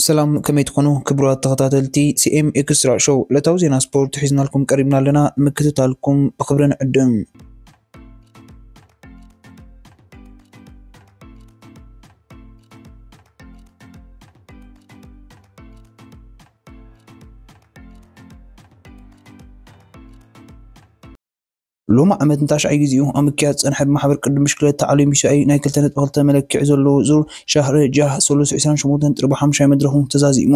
ሰላም ከመይ ትኾኑ ክቡራት ተኸታተልቲ ሲኤም ኤክስትራ ሾው ዕለታዊ ዜና ስፖርት ሒዝናልኩም ቀሪብና ኣለና ንምክትታልኩም ብክብሪ ንዕድም ሎሚ ዓመት ንታሽዓይ ጊዜኡ ኣብ ምክያድ ዝጸንሐ ብማሕበር ቅድም ብሽክለታ ዓለም ዩሲኣይ ናይ 2.2 መለክዒ ዘለዎ ዙር ሻህሪ ጃህ ሰሉስ 28 ጥሪ ብሓሙሻይ መድረኹ ተዛዚሙ።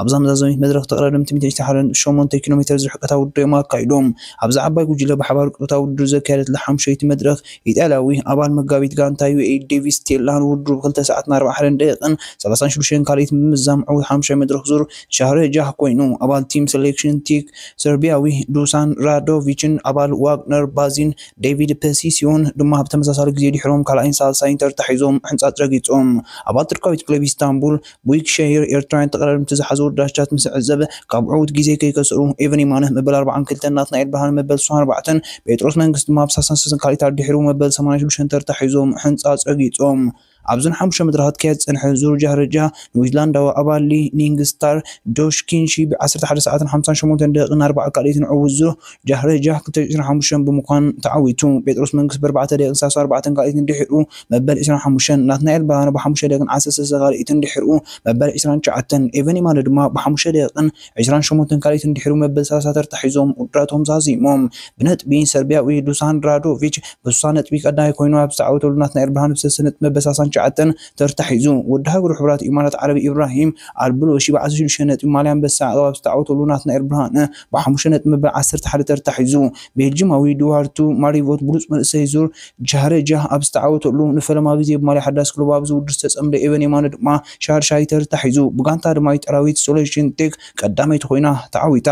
ኣብዛ መዛዘሚት መድረኽ ተቐዳደምቲ ሚእቲ ሓረን ሸሞንተ ኪሎ ሜተር ዝርሕቀታ ውድድር'ዮም ኣካይዶም። ኣብዛ ዓባይ ጉጅለ ብሓባር ቅጥታ ውድድር ዘካየደትላ ሓሙሸይቲ መድረኽ፣ ኢጣልያዊ ኣባል መጋቢት ጋንታ ዩኤኢ ዴቪስ ቴላ ንውድድሩ ብክልተ ሰዓትን ኣርብዓ ሓረን ደቂቕን ሰላሳን ሽዱሽተን ካልኣይትን ብምዛም ዕውት ሓሙሻይ መድረኽ ዙር ሻህረጃህ ኮይኑ። ኣባል ቲም ሰሌክሽን ቲክ ሰርቢያዊ ዱሳን ራዶቪችን ኣባል ዋግነር ባዚን ዴቪድ ፐሲሲዮን ድማ ብተመሳሳሊ ግዜ ድሒሮም ካልኣይን ሳልሳይን ተርታ ሒዞም ሕንጻጽ ረጊጾም። ኣባል ቱርካዊት ክለብ ኢስታንቡል ቡይክ ሸሂር ኤርትራውያን ተቐራርምቲ ዝሓዙ ውርዳቻት ምስ ዕዘብ ካብ ዕውት ግዜ ከይከስሩ ኤቨን የማነ መበል ኣርብዓን ክልተን ናትናኤል ብርሃነ መበል ስሳን ኣርባዕተን ጴጥሮስ መንግስት ድማ ኣብ ሳሳን ሰሰን ካልኢት ኣድሒሩ መበል ሰማንያን ሽዱሽተን ተርታ ሒዞም ሕንጻ ጸጊጾም ኣብዘን ሓሙሽተ መድረኻት ክካየድ ዝጸንሐ ዙር ጃህርጃ ንዊትላንዳዊ ኣባል ሊ ኒንግ ስታር ጆሽ ኪንሺ ብ ዓሰርተ ሓደ ሰዓትን ሓምሳን ሸሞንተን ደቂቕን ኣርባዓ ካልኢትን ዕውት ዙር ጃህረ ጃህ ክልተ ሽሕ ዒስራን ሓሙሽተን ብምዃን ተዓዊቱ። ጴጥሮስ መንግስ ብኣርባዕተ ደቂቅን ሰላሳ ኣርባዕተን ካልኢትን ድሒሩ መበል ዒስራን ሓሙሽተን፣ ናትናኤል ብርሃነ ብሓሙሽተ ደቂቅን ዓሰርተ ሰለስተ ካልኢትን ድሒሩ መበል ዒስራን ትሽዓተን፣ ኤቨን የማነ ድማ ብሓሙሽተ ደቂቅን ዒስራን ሸሞንተን ካልኢትን ድሒሩ መበል ሰላሳ ተርታ ሒዞም ውድድራቶም ዛዚሞም። ብነጥቢ ሰርቢያዊ ዱሳን ራዶቪች ብስሳ ነጥቢ ቀዳማይ ኮይኑ ኣብ ዝተዓወተሉ ናትናኤል ብርሃነ ብሰለስተ ነጥቢ መበል ሰላሳን ትሽዓተን ተርታ ሒዙ ወዲ ሃገሩ ሕቡራት ኢማራት ዓረብ ኢብራሂም ኣልብሉሺ ብዓሰርተ ሽዱሽተ ነጥቢ ማልያ ኣንበሳ ያዕቆብ ኣብ ዝተዓወተሉ ናትናኤል ብርሃነ ብሓሙሽተ ነጥቢ መበል ዓሰርተ ሓደ ተርታ ሒዙ፣ ቤልጂማዊ ዱዋርቱ ማሪቮት ብሉጽ መንእሰይ ዙር ጃህረጃ ኣብ ዝተዓወተሉ፣ ንፈለማ ግዜ ብማልያ ሓዳስ ክለቡ ኣብ ዝውድር ዝተጸምደ ኤቨን የማነ ድማ ሻድሻይ ተርታ ሒዙ፣ ብጋንታ ድማ ኢጣልያዊት ሶለሽን ቴክ ቀዳመይቲ ኮይና ተዓዊታ።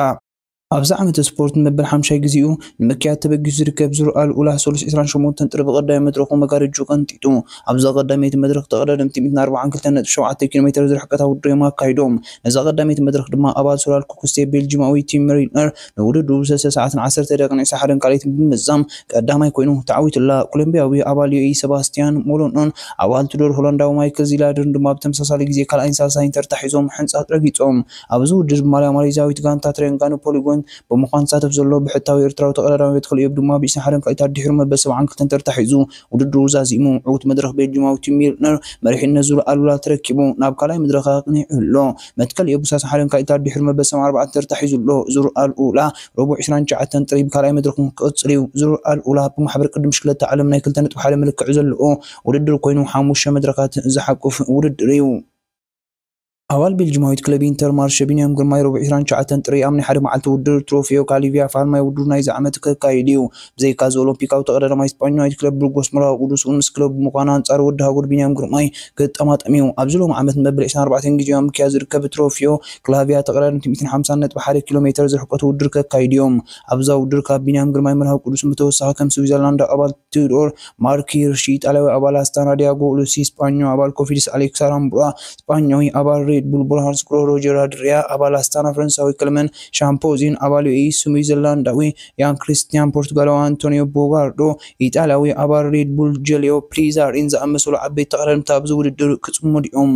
ኣብዚ ዓመተ ስፖርት ንመበል ሓምሻይ ግዜኡ ንምክያድ ተበጊሱ ዝርከብ ዙር ኣል ኡላ ሰሉስ ዕስራን ሸሞንተን ጥሪ ብቐዳመይ መድረኹ መጋርጅኡ ቀንጢጡ። ኣብዛ ቀዳመይቲ መድረኽ ተቐዳደምቲ ሚእትን ኣርብዓን ክልተን ነጥቢ ሸውዓተ ኪሎ ሜተር ዝርሕቀታ ውድድር እዮም ኣካይዶም። ነዛ ቀዳመይቲ መድረኽ ድማ ኣባል ሶላል ኩክስቴ ቤልጂማዊ ቲም ሜሪነር ንውድድሩ ብሰለስተ ሰዓትን ዓሰርተ ደቂቕን ዕስራ ሓደን ካልኣይትን ብምምዛም ቀዳማይ ኮይኑ ተዓዊቱላ። ኮሎምቢያዊ ኣባል ዩኤኢ ሰባስቲያን ሞሎኖን ኣባል ቱዶር ሆላንዳዊ ማይክል ዚላድርን ድማ ብተመሳሳሊ ግዜ ካልኣይን ሳልሳይን ተርታ ሒዞም ሕንጻጽ ረጊጾም። ኣብዚ ውድድር ብማልያ ማሌዥያዊት ጋንታ ትሬንጋኑ ፖሊጎን ብምዃን ዝሳተፍ ዘሎ ብሕታዊ ኤርትራዊ ተቐዳዳሚ ቤትክልኤብ ድማ ብዕስራን ሓደን ካልኢት ኣድሒሩ መበል ሰብዓን ክልተን ተርታ ሒዙ ውድድሩ ዛዚሙ ዕውት መድረኽ ቤልጂማዊ ቲም ሚልነር መሪሕነት ዙር ኣሉላ ተረኪቡ ናብ ካልኣይ መድረኽ ኣቕኒዑ ኣሎ። መትከል ኤቡሳስ ሓደን ካልኢታት ድሕሪ መበሰም ኣርባዕተ ተርታ ሒዙ ኣሎ። ዙር ኣሉላ ረቡዕ ዕስራን ትሽዓተን ጥሪ ብካልኣይ መድረኹ ክቕጽል እዩ። ዙር ኣሉላ ብማሕበር ቅዲ ብሽክለታ ዓለም ናይ ክልተ ነጥቢ ሓደ መለክዒ ዘለዎ ውድድር ኮይኑ ሓሙሽተ መድረኻት ዝሓቁፍ ውድድር እዩ። ኣባል ቤልጂማዊት ክለብ ኢንተርማርሸ ቢንያም ግርማይ ረቡዕ ዕስራን ትሽዓተን ጥሪ ኣብ ናይ ሓደ መዓልቲ ውድድር ትሮፊዮ ካሊቪያ ፋልማይ ውድድሩ ናይዚ ዓመት ከካይድ እዩ። ብዘይካ'ዚ ኦሎምፒካዊ ተቐዳዳማይ ስጳኛዊት ክለብ ብርጎስ መርሃዊ ቅዱስ'ውን ምስ ክለቡ ብምዃን ኣንጻር ወዲ ሃገሩ ቢንያም ግርማይ ክጠማጠም እዩ። ኣብዚ ሎሚ ዓመት ንመበል ዕስራን ኣርባዕተን ግዜኡ ኣብ ምክያድ ዝርከብ ትሮፊዮ ክላቪያ ተቐዳደምቲ ሚእትን ሓምሳን ነጥቢ ሓደ ኪሎ ሜተር ዝርሕቀቱ ውድድር ከካይዱ እዮም። ኣብዛ ውድድር ካብ ቢንያም ግርማይ መርሃዊ ቅዱስን ብተወሳኺ ከም ስዊዘርላንዳዊ ኣባል ቲዩዶር ማርክ ሂርሺ፣ ኢጣልያዊ ኣባል ኣስታና ድያጎ፣ ሉሲ ስጳኞ፣ ኣባል ኮፊድስ ኣሌክስ ኣራምቡራ፣ ስጳኛዊ ኣባል ሬድ ቡል ቦርሃርዝ ግሮህ ሮጀር ኣድሪያ፣ ኣባል ኣስታና ፈረንሳዊ ክለመን ሻምፖዚን፣ ኣባል ዩኤኢ ስዊዘርላንዳዊ ኢያን ክሪስትያን፣ ፖርቱጋላዊ ኣንቶንዮ ቦጋርዶ፣ ኢጣልያዊ ኣባል ሬድ ቡል ጀልዮ ፕሊዛሪን ዝኣመሰሉ ዓበይቲ ተቐዳደምቲ ኣብዚ ውድድር ክጽመዱ'ዮም።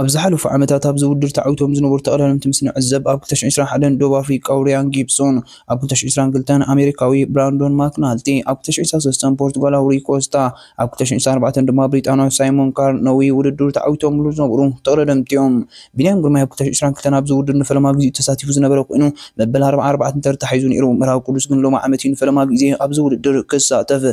ኣብ ዝሓለፉ ዓመታት ኣብዚ ውድድር ተዓዊቶም ዝነበሩ ተቐዳደምቲ ምስ ንዕዘብ፣ ኣብ ክልተ ሽሕን ዕስራን ሓደን ደቡብ ኣፍሪቃዊ ርያን ጊብሶን፣ ኣብ ክልተ ሽሕን ዕስራን ክልተን ኣሜሪካዊ ብራንዶን ማክናልቲ፣ ኣብ ክልተ ሽሕን ዕስራን ሰለስተን ፖርቱጋላዊ ሩይ ኮስታ፣ ኣብ ክልተ ሽሕን ዕስራን ኣርባዕተን ድማ ብሪጣንያዊ ሳይሞን ካርነዊ ውድድሩ ተዓዊቶምሉ ዝነበሩ ተቐዳደምቲ'ዮም። ቢንያም ግርማይ ኣብ ክልተ ሽሕን ዕስራን ክልተን ኣብዚ ውድድር ንፈለማ ግዜኡ ተሳቲፉ ዝነበረ ኮይኑ፣ መበል ኣርብዓን ኣርባዕተን ተርታ ሒዙ ነይሩ። መርሃዊ ቅዱስ ግን ሎሚ ዓመት'ዩ ንፈለማ ግዜ ኣብዚ ውድድር ክሳተፍ።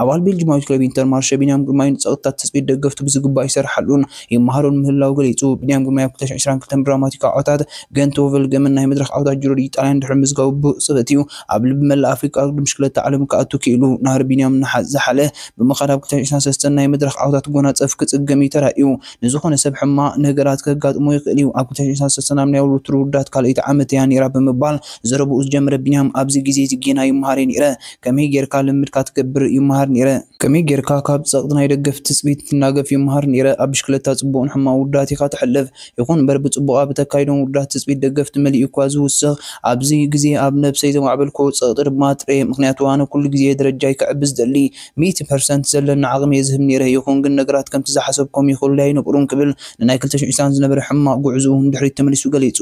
ኣባል ቤልጂማዊት ክለብ ኢንተርማርሸ ቢንያም ግርማይ ንጸቕጥታት ትጽቢት ደገፍቱ ብዝግባእ ይሰርሓሉን ይመሃሮን ምህላው ገሊጹ። ቢንያም ግርማይ ኣብ ክልተ ሽሕን ዕስራን ክልተን ብድራማቲካዊ ዓወታት ገንት ዎቨልገምን ናይ መድረኽ ዓወታት ጁሮ ዲ ኢጣልያን ድሕሪ ምምዝጋቡ ብቕጽበት'ዩ ኣብ ልቢ መላእ ኣፍሪቃ ኣብ ውድድር ብሽክለታ ዓለም ክኣቱ ክኢሉ። ናህሪ ቢንያም እናሓዝሓለ ብምኻድ ኣብ ክልተ ሽሕን ዕስራን ሰለስተን ናይ መድረኽ ዓወታት ክጎናጸፍ ክጽገም'ዩ ተራእዩ። ንዝኾነ ሰብ ሕማቕ ነገራት ከጋጥሞ ይኽእል'ዩ፣ ኣብ ክልተ ሽሕን ዕስራን ሰለስተን ኣብ ናይ ወርልድ ቱር ውርደት ካልኣይቲ ዓመተይ'ያ ነይራ ብምባል ዘረብኡ ዝጀመረ ቢንያም ኣብዚ ግዜ'ዚ ጌና ይመሃር'የ ነይረ፣ ከመይ ጌርካ ልምድካ ትገብር ይመሃር ኔረ። ከመይ ጌርካ ካብ ጸቕጢ ናይ ደገፍቲ ትጽቢት ትናገፍ ይመሃር ኔረ። ኣብ ብሽክለታ ጽቡቕን ሕማቕን ውርደት ኢኻ ተሕልፍ። ይኹን እምበር ብጽቡቕ ኣብ እተካይዶም ውርደት ትጽቢት ደገፍቲ መሊኡ እኳ ዝውስኽ ኣብዚ ግዜ ኣብ ነብሰይ ዘማዕበልክዎ ጸቕጢ ድማ ጥሬ ምኽንያቱ ኣነ ኩሉ ግዜ ደረጃይ ከዕቢ ዝደሊ ሚእቲ ፐርሰንት ዘለኒ ዓቕሚ እየ ዝህብ ኔረ ይኹን ግን ነገራት ከምቲ ዝሓሰብኮም ይኸዱለይ ኣይነበሩን ክብል ንናይ ክልተ ሽሕ ዒስራን ዝነበረ ሕማቕ ጉዕዝኡ ንድሕሪት ተመሊሱ ገሊጹ።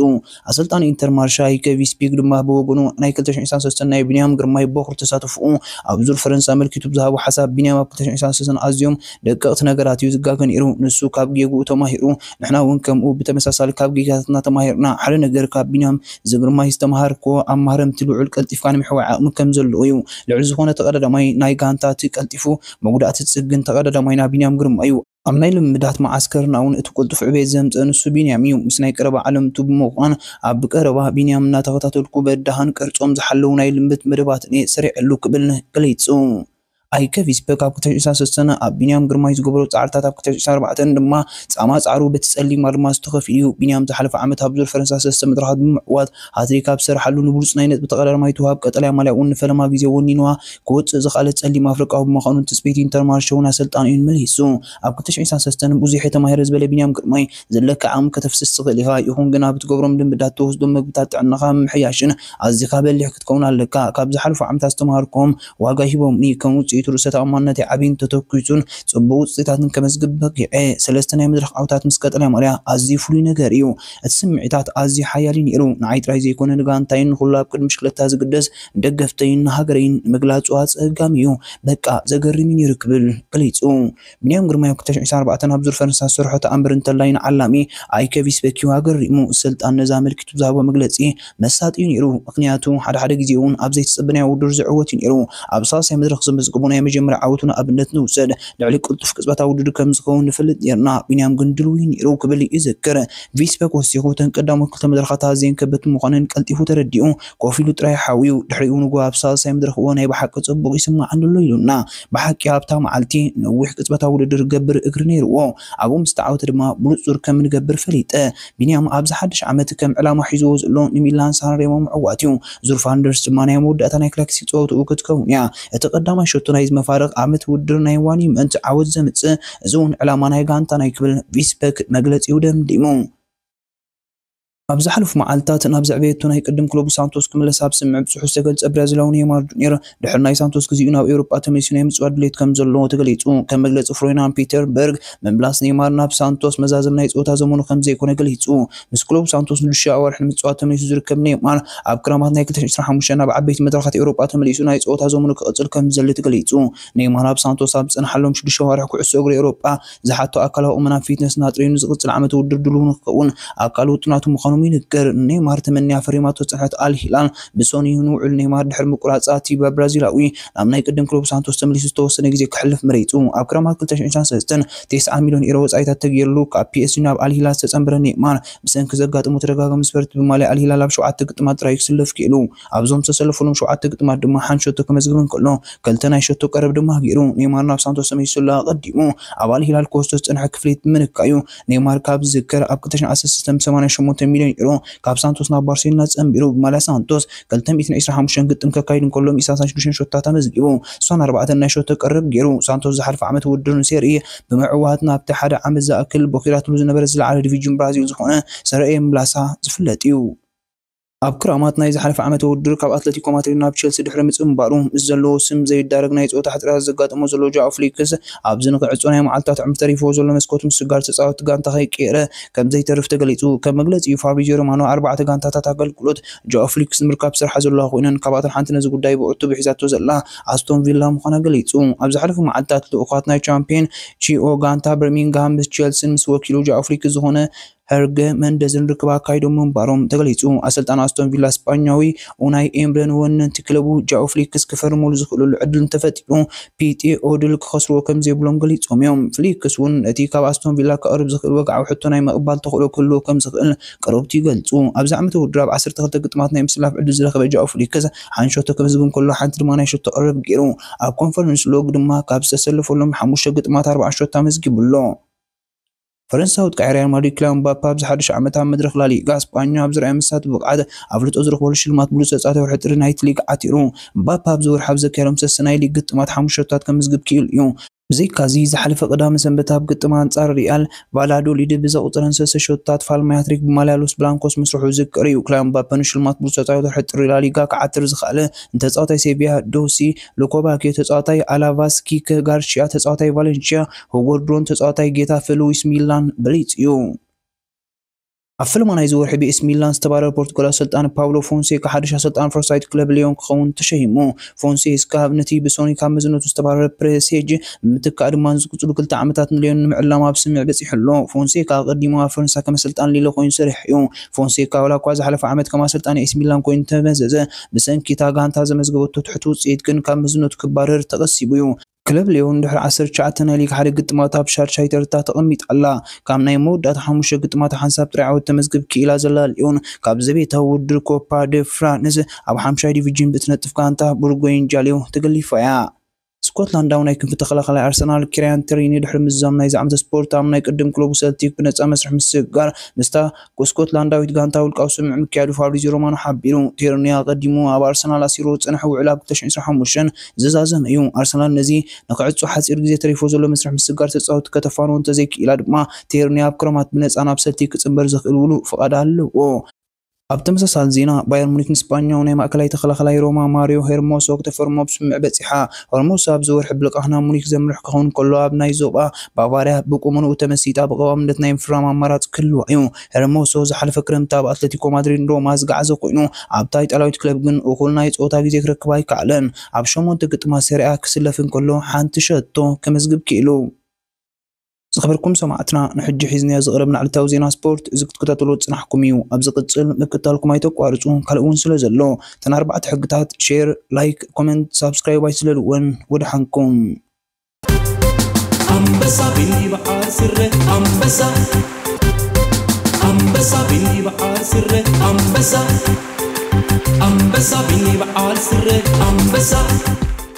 ኣሰልጣኒ ኢንተር ማርሻይ ከቪ ስፒግ ድማ ብወገኑ ናይ ክልተ ሽሕን ዒስራን ሰለስተን ናይ ቢንያም ግርማይ ቦኽሪ ተሳትፎኡ ኣብ ዙር ፈረንሳ ኣመልኪቱ ብዝሃቦ ሓሳብ ቢንያም ኣብ ክልተ ሽሕን ዒስራን ሰለስተን ኣዝዮም ደቀቕቲ ነገራት እዩ ዝጋገ ነይሩ ንሱ ካብ ጌግኡ ተማሂሩ ንሕና እውን ከምኡ ብተመሳሳሊ ካብ ጌጋታትና ተማሂርና ሓደ ነገር ካብ ቢንያም ዝግርማይ ዝተምሃርክዎ ኣብ ማህረምቲ ልዑል ቀልጢፍካ ናይ ምሕዋይ ዓቕሚ ከም ዘለዎ እዩ ልዑል ዝኾነ ተቐዳዳማይ ናይ ጋንታ እቲ ቀልጢፉ መጉዳእቲ ዝጽግን ተቐዳዳማይና ቢንያም ግርማይ እዩ። ኣብ ናይ ልምምዳት መዓስከርና እውን እቲ ቅልጡፍ ዕቤት ዘምጽእ ንሱ ቢንያም እዩ። ምስ ናይ ቀረባ ዓለምቱ ብምዃን ኣብ ብቀረባ ቢንያም እናተኸታተልኩ በዳህን ቅርጾም ዝሓለዉ ናይ ልምምድ መደባትን እየ ሰሪዐሉ ክብል ገሊጹ። ኣይከ ቪስፐ ካብ ክልተ ሺሕ ዕስራን ሰለስተን ኣብ ቢንያም ግርማይ ዝገበሮ ጻዕርታት ኣብ ክልተ ሺሕ ዕስራን ኣርባዕተን ድማ ጻማ ጻዕሩ በቲ ጸሊም ኣልማዝ ተኸፊሉ እዩ። ቢንያም ዝሓለፈ ዓመት ኣብ ዙር ፈረንሳ ሰለስተ መድረኻት ብምዕዋት ሃትሪክ ኣብ ዝሰርሓሉ ንብሉጽ ናይ ነጥቢ ተቐዳዳማይ ትወሃብ፣ ቀጠልያ ማልያ'ውን ንፈለማ ግዜ ወኒንዋ ክወጽእ ዝኸኣለ ጸሊም ኣፍሪቃዊ ብምዃኑ ንትጽቢት ኢንተርማርሸውን ኣሰልጣኒኡን መሊሱ ኣብ ክልተ ሽሕን ሰላሳን ሰተን ብዙሕ'የ ተማሂረ ዝበለ ቢንያም ግርማይ ዘለካ ዓቕሚ ከተፍስስ ትኽእል ኢኻ ይኹን ግና ብትገብሮም ልምዳት ትወስዶም መግብታት ጥዕናኻ ምምሕያሽን ኣዚኻ በሊሕ ክትከውን ኣለካ ካብ ዝሓለፉ ዓመታት ዝተማሃርክዎም ዋጋ ሂቦምኒ ከም ውጽኢቱ ርእሰ ተኣማንነተይ ዓብዩን ተተኲሱን ጽቡቕ ውጽኢታትን ከመዝግብ በቒዐ ሰለስተ ናይ መድረኽ ዓወታት ምስ ቀጠልያ ማልያ ኣዝዩ ፍሉይ ነገር'ዩ እቲ ስምዒታት ኣዝዩ ሓያል እዩ ነይሩ፣ ንዓይ ጥራይ ዘይኮነ ንጋንታይን ንኹሉ ኣብ ቅድሚ ብሽክለታ ዝግደስ ንደገፍተይን ንሃገረይን ንምግላጹ ኣጸጋሚ እዩ፣ በቃ ዘገርም እዩ ነይሩ ክብል ገሊጹ። ብንያም ግርማይ ኣብ ክልተ ሽሕ ዒስራን ኣርባዕተን ኣብ ዙር ፈረንሳ ዝሰርሖ ተኣምር እንተላይ ንዓላሚ ኣይከ ቪስበኪ ኣገሪሙ፣ ኣሰልጣኒ ነዚ ኣመልኪቱ ብዝሃቦ መግለጺ መሳጢ'ዩ ነይሩ፣ ምኽንያቱ ሓደ ሓደ ግዜ'ውን ኣብ ዘይተጸበናዮ ውድድር ዝዕወት'ዩ ነይሩ። ኣብ ሳልሳይ መድረኽ ዘመዝገቦ ናይ መጀመርያ ዓወቱ ንኣብነት ንውሰድ፣ ልዕሊ ቅልጡፍ ቅጽበታዊ ውድድር ከም ዝኸውን ንፈልጥ ነይርና፣ ቢንያም ግን ድልው'ዩ ነይሩ ክብል ይዝክር። ቪስበክ ወሲኹ፣ እተን ቀዳሞት ክልተ መድረኻት ኣዝየን ከበድቲ ምዃነን ቀልጢፉ ተረዲኡ፣ ኮፍ ኢሉ ጥራይ ሓውዩ። ድሕሪኡ ንግሆ ኣብ ሳልሳይ መድረኽ'ወ ናይ ብሓቂ ጽቡቕ ይስምዓኒ'ሎ ኢሉና። ብሓቂ ኣብታ መዓልቲ፣ ነዊሕ ቅጽበታዊ ውድድር ክገብር እግሪ ነይርዎ። ኣብኡ ምስ ተዓወተ ድማ ብንጹር ከም እንገብር ፈሊጠ። ቢንያም ኣብዚ ሓድሽ ዓመት ከም ዕላማ ሒዝዎ ዘሎ ንሚላን ሳንሬሞ ምዕዋት'ዩ። ዙርፍ ኣንደርስ ድማ ናይ መወዳእታ ናይ ክላክሲ ጸወትኡ ክትከውን'ያ። እቲ ቀዳማይ ሸቶ ናይዚ መፋርቕ ዓመት ውድድር ናይ ዋኒመንት ዓወት ዘምጽእ፣ እዚ'ውን ዕላማ ናይ ጋንታና'ዩ ክብል ቪስበክ መግለጺኡ ደምዲሙ። ኣብ ዝሓለፉ መዓልታት ናብ ዘዕበየቶ ናይ ቅድም ክለቡ ሳንቶስ ክምለስ ኣብ ስምምዕ ብጽሑፍ ዝተገልጸ ብራዚላዊ ኔይማር ጁንየር፣ ድሕሪ ናይ ሳንቶስ ግዜኡ ናብ ኤውሮጳ ተመሊሱ ናይ ምጽዋት ድሌት ከምዘለዎ ተገሊጹ። ከም መግለጺ ፍሮይናን ፒተርበርግ፣ ምምላስ ኔይማር ናብ ሳንቶስ መዛዘሚ ናይ ጸወታ ዘመኑ ከምዘይኮነ ገሊጹ። ምስ ክለቡ ሳንቶስ ንሽዱሽተ ኣዋርሕ ንምጽዋት ተመሊሱ ዝርከብ ኔይማር፣ ኣብ ክራማት ናይ ክልተ ሺሕን ዕስራን ሓሙሽተን ናብ ዓበይቲ መድረኻት ኤውሮጳ ተመሊሱ ናይ ጸወታ ዘመኑ ክቕጽል ከምዝደሊ ተገሊጹ። ኔይማር ኣብ ሳንቶስ ኣብ ዝጸንሓሎም ሽዱሽተ ኣዋርሕ ኩዕሶ እግሪ ኤውሮጳ፣ ዝሓቶ ኣካላዊ ቁመናን ፊትነስን ኣጥርዩ ንዝቕፅል ዓመተ ውድድር ድሉው ንክኸውን ኣካል ውጥናቱ ምዃኖም ይንገር። ንኔይማር ተመንያ ፈሪማቶ ዝፀንሐት ኣል ሂላል ብሰኑይ ንውዕል ኔይማር ድሕሪ ምቁራፃ እቲ ብብራዚላዊ ናብ ናይ ቅድም ክለቡ ሳንቶስ ተመሊሱ ዝተወሰነ ግዜ ከሕልፍ መሪፁ። ኣብ ክረማት ክልተ ሽሕን ሸውዓን ሰለስተን ተስዓ ሚልዮን ኢሮ ወፃኢታት ተገይርሉ ካብ ፒኤስጂ ናብ ኣል ሂላል ዝተፀምበረ ኔይማር ብሰንኪ ዘጋጠሞ ተደጋጋሚ ስፐርት ብማልያ ኣል ሂላል ኣብ ሸውዓተ ግጥማት ጥራይ እዩ ክስለፍ ክኢሉ። ኣብዞም ዝተሰለፈሎም ሸውዓተ ግጥማት ድማ ሓንቲ ሸቶ ከመዝግብ እንከሎ፣ ክልተ ናይ ሸቶ ቀረብ ድማ ገይሩ። ኔይማር ናብ ሳንቶስ ተመሊሱ'ሎ። ኣቐዲሙ ኣባል ሂላል ኮስቶ ዝጸንሐ ክፍሊት ብምንካይ'ዩ። ኔይማር ካብ ዝዝከር ኣብ ክልተ ሽሕን ዓሰርተ ሰለስተን ብሰማንያ ሸሞንተ ሚልዮን ዩሮ ካብ ሳንቶስ ናብ ባርሴሎና ጸንቢሩ ብማልያ ሳንቶስ ክልተ ሚእትን ዕስራን ሓሙሽተን ግጥም ከካይድ እንከሎ ሚእቲ ሰላሳን ሽዱሽተን ሸቶታት ኣመዝጊቡ ስሳን ኣርባዕተን ናይ ሸቶ ቀረብ ገይሩ። ሳንቶስ ዝሓለፈ ዓመት ውድድር ንሴሪ ኤ ብምዕዋት ናብቲ ሓደ ዓመት ዝኣክል ቦኺራትሉ ዝነበረ ዝለዓለ ዲቪጅን ብራዚል ዝኾነ ሰረ ኤ ምምላሳ ዝፍለጥ'ዩ። ኣብ ክራማት ናይ ዝሓለፈ ዓመተ ውድድር ካብ ኣትለቲኮ ማድሪድ ናብ ቸልሲ ድሕሪ ምጽንባሩ፣ ምስ ዘለዎ ስም ዘይዳረግ ናይ ጸወታ ሕጽረት ዘጋጠሞ ዘሎ ጃኦ ፍሊክስ፣ ኣብዚ ንክዕጾ ናይ መዓልታት ዕምር ተሪፍዎ ዘሎ መስኮት ምስጋር ተጻወትቲ ጋንታ ከይቀየረ ከምዘይተርፍ ተገሊጹ። ከም መግለጺኡ ፋብሪዝዮ ሮማኖ፣ ኣርባዕተ ጋንታታት ኣገልግሎት ጃኦ ፍሊክስ ንምርካብ ዝሰርሓ ዘለዋ ኮይነን፣ ካብኣተን ሓንቲ ነዚ ጉዳይ ብዕቱብ ሒዛቶ ዘላ ኣስቶን ቪላ ምዃና ገሊጹ። ኣብ ዝሓለፉ መዓልታት ልኡኻት ናይ ቻምፕዮን ቺኦ ጋንታ በርሚንግሃም ምስ ቸልሲን ምስ ወኪሉ ጃኦ ፍሊክስ ዝኾነ ሄርገ መንደዝን ርክብ ኣካይዶም ምንባሮም ተገሊጹ። ኣሰልጣኒ ኣስቶን ቪላ ስጳኛዊ ኡናይ ኤምረ ንወነንቲ ክለቡ ጃኦ ፍሊክስ ክፈርመሉ ዝኽእለሉ ዕድል እንተፈጢሩ ፒቴ ኦድል ክኸስርዎ ከምዘይብሎም ገሊጾም እዮም። ፍሊክስ'ውን ነቲ ካብ ኣስቶን ቪላ ከቕርብ ዝኽእል ወግዓዊ ሕቶ ናይ ምቕባል ተኽእሎ ክህልዎ ከምዝኽእል ቀረብቱ ይገልጹ። ኣብዚ ዓመተ ውድድር ኣብ ዓሰርተ ክልተ ግጥማት ናይ ምስላፍ ዕድል ዝረኸበ ጃኦ ፍሊክስ ሓንቲ ሸቶ ከመዝግብ እንከሎ ሓንቲ ድማ ናይ ሸቶ ቀረብ ገይሩ። ኣብ ኮንፈረንስ ሎግ ድማ ካብ ዝተሰለፈሎም ሓሙሽተ ግጥማት ኣርብዓ ሸቶ ኣመዝጊቡ ኣሎ። ፈረንሳ ወጥቃዒ ሪያል ማድሪድ ክላን ምባፐ ኣብዚ ሓዱሽ ዓመት ኣብ መድረኽ ላሊጋ ስጳኛ ኣብ ዝርኣዮ መሳጢ ብቕዓት ኣፍልጦ ዝረኽበሉ ሽልማት ብሉጽ ተጻዋቲ ወርሒ ጥሪ ናይቲ ሊግ ዓቲሩ። ምባፐ ኣብዚ ወርሒ ኣብ ዘካየዶም ሰስተ ናይ ሊግ ግጥማት ሓሙሽተ ሸቶታት ከምዝግብ ክኢሉ እዩ። ብዘይካ'ዚ ዝሓለፈ ቀዳመ ሰንበት ኣብ ግጥም ኣንጻር ሪያል ቫላዶሊድ ብዘቑጸረን ሰስተ ሸቶታት ፋልማይ ሃትሪክ ብማልያ ሎስ ብላንኮስ ምስርሑ ዝዝከር እዩ። ክላን ምባፐ ንሽልማት ብሉጽ ተጻዋቲ ወርሒ ጥሪ ላሊጋ ክዓትር ዝኸኣለ ንተጻዋታይ ሴቪያ ዶሲ ሎኮባኪዮ፣ ተጻዋታይ ኣላቫስ ኪክ ጋርሺያ፣ ተጻዋታይ ቫለንሺያ፣ ሁጎ ድሮን ተጻዋታይ ጌታፈ ሉዊስ ሚላን ብሊጽ እዩ። ኣብ ፈለማ ናይዚ ወርሒ ብኤሲ ሚላን ዝተባረረ ፖርቱጋላዊ ኣሰልጣኒ ፓውሎ ፎንሴካ ሓድሽ ኣሰልጣኒ ፈረንሳዊት ክለብ ሊዮን ክኸውን ተሸይሙ። ፎንሴስካ ነቲ ብሶኒ ካብ መዝነቱ ዝተባረረ ፕሬሴጅ ብምትካእ ድማ ንዝቕጽሉ ክልተ ዓመታት ንሊዮን ንምዕላም ኣብ ስምምዕ በጺሑ ኣሎ። ፎንሴካ ኣቐዲሙ ኣብ ፈረንሳ ከም ኣሰልጣኒ ሊለ ኮይኑ ሰሪሑ እዩ። ፎንሴካ ዋላኳ ዝሓለፈ ዓመት ከም ኣሰልጣኒ ኤሲ ሚላን ኮይኑ ተመዘዘ፣ ብሰንኪ እታ ጋንታ ዘመዝገበቶ ትሑት ውጽኢት ግን ካብ መዝነቱ ክባረር ተቐሲቡ እዩ። ክለብ ልዮን ድሕሪ ዓሰርተ ትሽዓተ ናይ ሊግ ሓደ ግጥማታ ኣብ ሻድሻይ ተርታ ተቐሚጣ ኣላ። ካብ ናይ መወዳእታ ሓሙሽተ ግጥማታ ሓንሳብ ጥራይ ዓወት ተመዝግብ ክኢላ ዘላ ልዮን፣ ካብ ዘቤታዊ ውድድር ኮፓ ደ ፍራንስ ኣብ ሓምሻይ ዲቪጅን ብእትነጥፍ ጋንታ ብሩጎይን ጃልዮ ተገሊፋ እያ። ስኮትላንዳዊ ናይ ክንፊ ተኸላኻላይ ኣርሰናል ኪርያን ትሪኒ ድሕሪ ምዝዛም ናይዚ ዓመተ ስፖርት ኣብ ናይ ቅድም ክለቡ ሰልቲክ ብነጻ መስርሕ ምስግጋር ምስታ ስኮትላንዳዊት ጋንታ ውልቃዊ ስምምዕ ምክያዱ ፋብሪዝዮ ሮማኖ ሓቢሩ። ቲርኒ ኣቐዲሙ ኣብ ኣርሰናል ኣሲርዎ ዝጸንሐ ውዕል ኣብ ክልተ ሽሕን ዕስራን ሓሙሽተን ዝዛዘመ እዩ። ኣርሰናል ነዚ ንኽዕጾ ሓጺር ግዜ ተሪፍዎ ዘሎ መስርሕ ምስግጋር ተጻወትቲ ከተፋንዎ እንተዘይክኢላ ድማ ቲርኒ ኣብ ክረማት ብነጻ ናብ ሰልቲክ ክጽንበር ዘኽእል ውሉእ ፍቓድ ኣለዎ። ኣብ ተመሳሳሊ ዜና ባየር ሙኒክ ንስጳኛዊ ናይ ማእከላይ ተኸላኻላይ ሮማ ማርዮ ሄርሞሶ ክተፈርሞ ኣብ ስምምዕ በጺሓ። ሆርሙስ ኣብዚ ወርሒ ብልቓሕ ናብ ሙኒክ ዘምርሕ ክኸውን ከሎ፣ ኣብ ናይ ዞባ ባቫርያ ብቁመንኡ ተመሲጣ ብቐዋምነት ናይ ምፍራም ኣማራጺ ክህልዋ እዩ። ሄርሞሶ ዝሓለፈ ክረምቲ ኣብ ኣትለቲኮ ማድሪድን ሮማ ዝገዓዘ ኮይኑ፣ ኣብታ ኢጣልያዊት ክለብ ግን እኹል ናይ ጸወታ ግዜ ክረክብ ኣይከኣለን። ኣብ ሸሞንተ ግጥማት ሰሪኣ ክስለፍ እንከሎ ሓንቲ ሸቶ ከመዝግብ ክኢሉ። ዝኸበርኩም ሰማዕትና ንሕጂ ሒዝናዮ ዝቐረብና ዕለታዊ ዜና ስፖርት እዚ ክትከታተልዎ ዝጽናሕኩም እዩ። ኣብ ዝቕጽል ምክትታልኩም ኣይተቋርጹ ካልእ እውን ስለ ዘሎ እተን ኣርባዕተ ሕግታት ሼር፣ ላይክ፣ ኮመንት፣ ሳብስክራይብ ኣይትስለልወን። ወደሓንኩም። ኣንበሳ ብበዓል ስረ ኣንበሳ ኣንበሳ ብበዓል ስረ ኣንበሳ ኣንበሳ ብበዓል ስረ ኣንበሳ